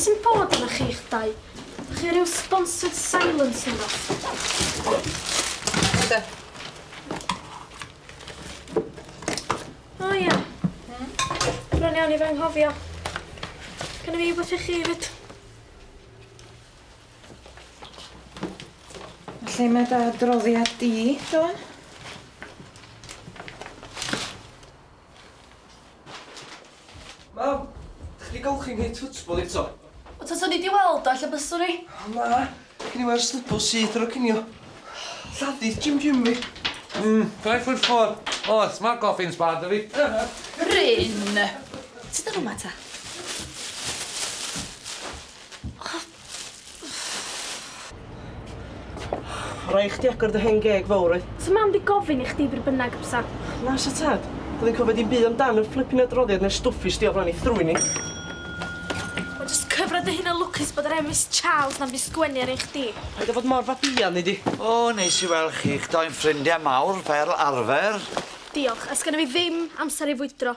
sy'n bod yna chi'ch dau? Chi rhyw sponsored silence yno? O oh, ia. Hmm? Rwy'n iawn i fy nghofio. Can i fi beth i chi fyd? Lle mae da droddiad di, Dawn? Mam, chdi golchi'n hyn twtsbol eto. O taswn i di weld o ella byswn i. O na, gyn i weld snybl syth ar o cinio. Lladdith Jim Jim fi. Mmm, five foot four. O, oh, smart coffee yn sbar da fi. Bryn! Ti dod yma ta? Rhaid i chdi agor dy hen geg fowr, wyt? Sa mam di gofyn i chdi bryd bynnag, bysa? Na, sa tad. Doedd hi'n cofio dim byd amdan y fflipin adroddiad neu'r stwff fues di o flaen ei thrwyn hi. Wel, jyst cyfra dy hun yn lwcus bod yr Emrys Charles na wedi sgwennu ar un chdi. Paid â bod mor fabïan, nei di. O, neis i weld chi'ch dou yn ffrindiau mawr, fel arfer. Diolch, a sgenna fi ddim amser i fwydro.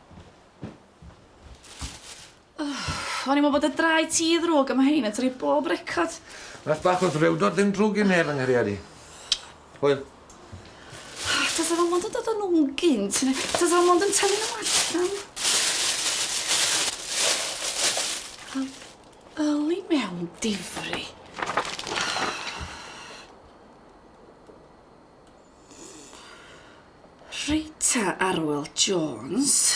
O'n i'n meddwl bod y drai ti ddrwg a ma' hein yn torri bob record. Math bach o ddrewdod ddim drwg i neb yng nghariad i. Hwyl. Tasa fo mond yn dod o nw gynt ne' tasa fo mond yn tynnu nw allan. Wel, yli mewn difri. Rita Arwel Jones.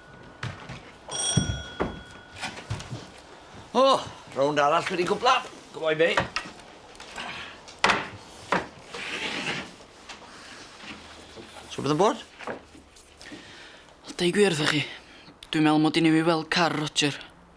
O, rownd arall wedi gwbla. Go on, mate. So bydd yn bod? Dau gwir wrthych chi. Dwi'n meddwl mod i'n ei weld car Roger.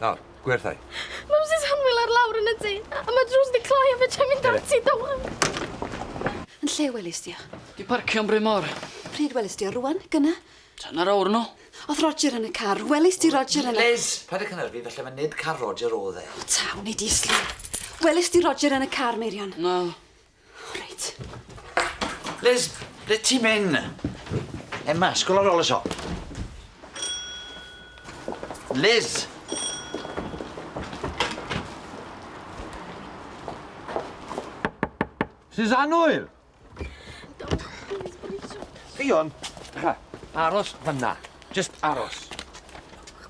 Nawr, gwerthau. Mae Misus Hanwyl ar lawr yn y tŷ, a mae drws di cloi a fedrai'm mynd ati, dawel! Yn lle welist di o? Di parcio'n Bryn Mawr. Pryd welist di o, rŵan? Gyna? Hanner awr yn ôl. O'th Roger yn y car, welist di Roger yn y... Liz! Paid a cynyrfu, falle mae nid car Roger o'dd e. O ta, wnei di slif. Welist di Roger yn y car, Meirion? Naddo. O reit. Liz, ble ti'n mynd? Emma, sgol ar ôl y siop. Liz! Sy'n anwyl! Ffion, aros fyna. Just aros.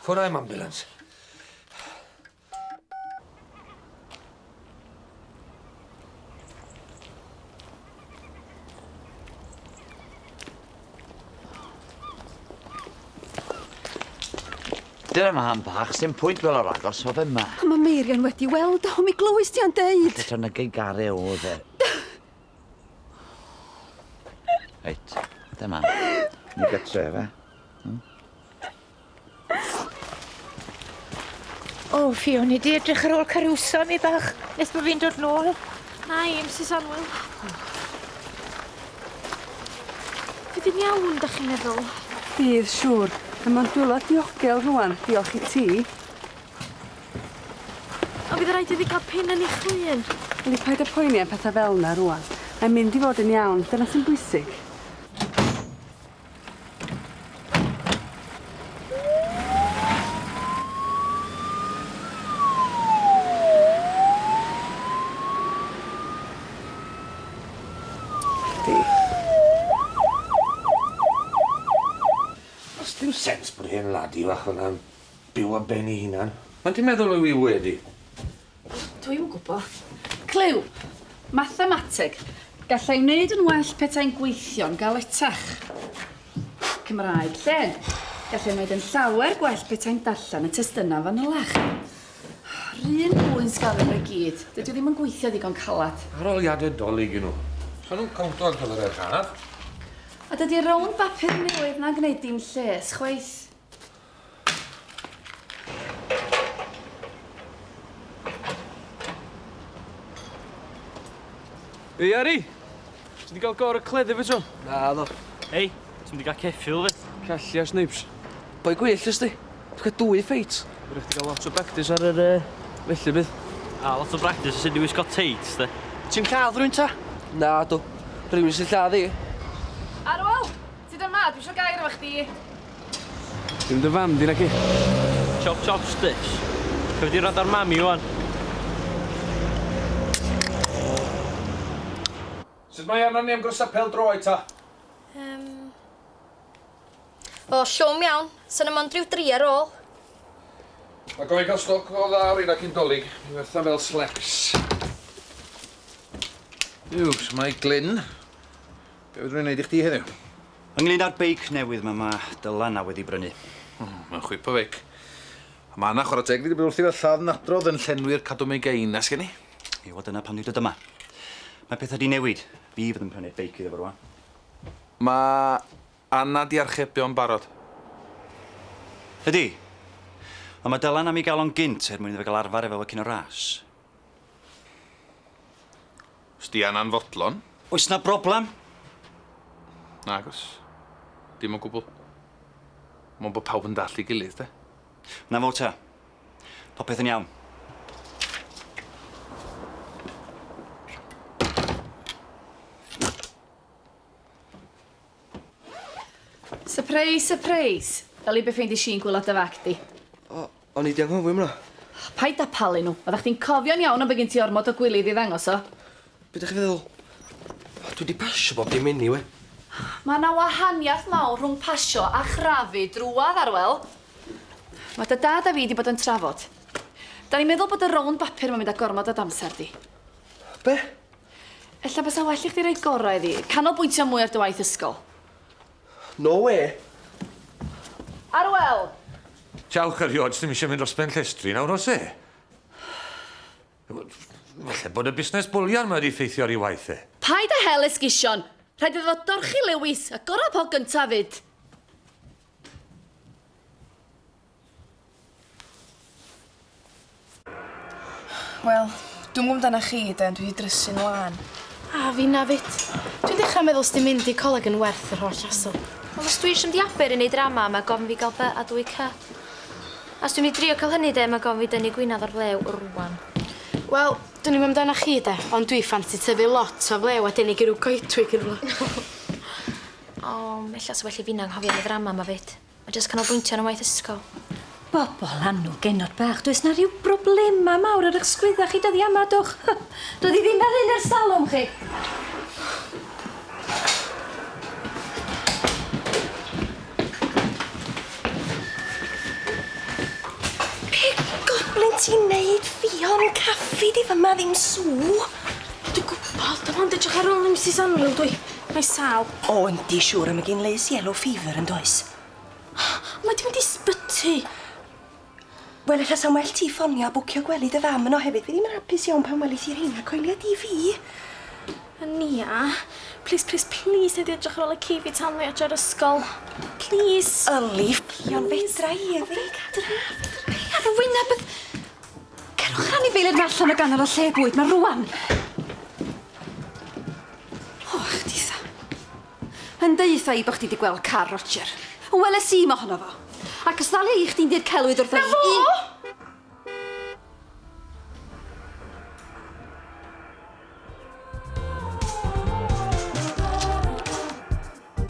Ffwrdd â'm ambulance. Dyna ma am bach, sy'n pwynt fel o'r agos o fe ma. A mae Meirion wedi weld o, mi glywys ti o'n deud. Dyta na gei gare o fe. Reit, dyma. Ni gytre fe. O, oh, fi o'n i di edrych ar ôl carwsa mi bach, nes bod fi'n dod nôl. Na i, Mrs Anwyl. Fydd yn iawn, da chi'n meddwl? Bydd, siŵr. Mae mae'n dwylo diogel rwan, diolch i ti. A bydd rhaid iddi cael pen yn ei chwyn. Ydy paid y poeni am pethau fel yna rwan. Mae'n mynd i fod yn iawn, dyna sy'n bwysig. sens bod hen lady fach fyna'n byw ar ben ei hunan. Ond ti'n meddwl yw 'i wedi? Dw i'm yn gwybod. Clyw! Mathemateg! Gallai wneud yn well petai'n gweithio'n galetach. Cymraeg, llen. Gallai wneud yn llawer gwell petai'n darllen y testunau fanylach. Rhyn mwyn sgafio nhw i gyd. Dydw ddim yn gweithio ddigon calad. Aroliadau dolyg i nhw. Sa'n nhw'n cowntio ar gyfer yr haf? A dydy rownd bapur newydd na'n gwneud dim lles, chwaith. Ei Ari! Ti di gael gor y cleddu fe tro? Na, ddo. Ei, ti'n di gael ceffil fe? Cellia, Snipes. Boi gwyll ys di. Ti'n cael dwy ffeit. Rwy'n ti gael lot o practis ar yr uh, felly bydd. A, lot o practis ys di wisgo teits, di. Ti'n lladd rwy'n ta? Na, ddo. Rwy'n sy'n lladd i. Arwel! Ti dal ma, dwi isio gair efo chdi. Dim dy fam di naci? Chop chops bitch. Rhaid di rando ar mami ŵan. Sut mae arnon ni am gwrsad pel droed ta? Yym. O llwm iawn. Sa na mond ryw dri ar ôl. Mae gofyn cael stoc o dda o reina cyn dolig. Mae wertha fel slecs. Yw, shwmae Glyn? Be' fedrwn i neud i chdi heddiw? Ynglŷn â'r beic newydd 'ma ma' Dylan a wedi brynu. O, mae'n chwip o feic. A ma' 'na chwara teg iddi bod wrthi fel lladd nadrodd yn llenwi'r cadw megainnas gen i. Ie, wel dyna pam dwi dod yma. Mae petha 'di newid. Fi fydd yn prynu'r beic iddo fo rŵan. Ma' Anna 'di archebio'n barod. Ydi. Ond ma' Dylan am 'i ga'l o'n gynt er mwyn iddo fe ga'l arfar efo fo cyn y ras. Os di Anna'n fodlon. Oes 'na broblem? Nag oes. Dim o gwbl. Mond bod pawb yn dallt ei gilydd, de? 'Na fo te. Popeth yn iawn. Sypreis, sypreis! Fel i be' ffeindies i'n gwilod dy fag di. O! O'n i 'di anghofio am wnna. Paid â palu nhw. Oeddach chdi'n cofio'n iawn ond bod gen ti ormod o gwilydd i ddangos o. Be' 'dach chi feddwl? O dwi 'di pasio bob dim eniwe. Ma' 'na wahaniath mawr rhwng pasio a chrafu drwadd Arwel. Ma' dy dad a fi 'di bod yn trafod. 'Dan ni'n meddwl bod y rownd bapur 'ma'n mynd â gormod o d'amser di. Be'? Ella bysa well i chdi roi gorau iddi. Canolbwyntio mwy ar dy waith ysgol. No wê! Arwel! Jawch erioed, sdim eisiau mynd dros ben llestri nawr, oes e? Falle bod y busnes bwlian mae wedi ffeithio ar ei waith e. Paid â hel esgusion! Rhaid iddo fo dorchi Lewis, a gorau po gyntaf 'fyd! Wel, dwi'm gwbo amdanach chi de ond dwi 'di drysu'n lân. A finna 'fyd. Dwi'n dechra meddwl sdim mynd i coleg yn werth yr holl hassle. Wel os dwi isio mynd i Aber i neud drama ma' gofyn fi ga'l by a dwy cy. A os dwi'n mynd i drio ca'l hynny de ma' gofyn fi dynnu gwinadd o'r flew rŵan. Wel, dwn i'm amdanach chi de ond dwi ffansi tyfu lot o flew a denu i ryw goedwig ne' rwla. O, ella sa well i finna anghofio am y ddrama ma 'fyd. A jyst canolbwyntio ar 'y ngwaith ysgol. Bobol annwl genod bach, does 'na ryw broblema mawr ar 'ych sgwydda chi dyddia' yma, dwch. Doedd 'i ddim fel hyn ers talwm chi. Be' goblin ti'n neud, Ffion? Caffi di fyma, ddim sŵ. Dwi gwbod, dim ond edrych ar ôl Misus Annwyl dw i. Mae 'i sâl. O yndi siŵr a ma gin Liz yellow fever yndoes? O mae di mynd i sbyty. Wel ella sa'n well ti ffonio a bwcio gwely dy fam yno hefyd fi ddim yn hapus iawn pan welith ti rheina coelia di fi. Nia plîs plîs plîs nei di edrych ar ôl y ci fi tan fi adra o'r ysgol. Plîs. Yli ffyc ond fedra i yli. Ffyc adra fedra i ar y wyneb beth Cerwch yr anifeiliaid ma allan o ganol y lle bwyd ma rŵan. O, chditha. Yn deutha i bo' chdi 'di gweld car Roger. On' weles i mohono fo. Ac os ddalia i chdi'n dir celwydd wrtha i... 'Na fo!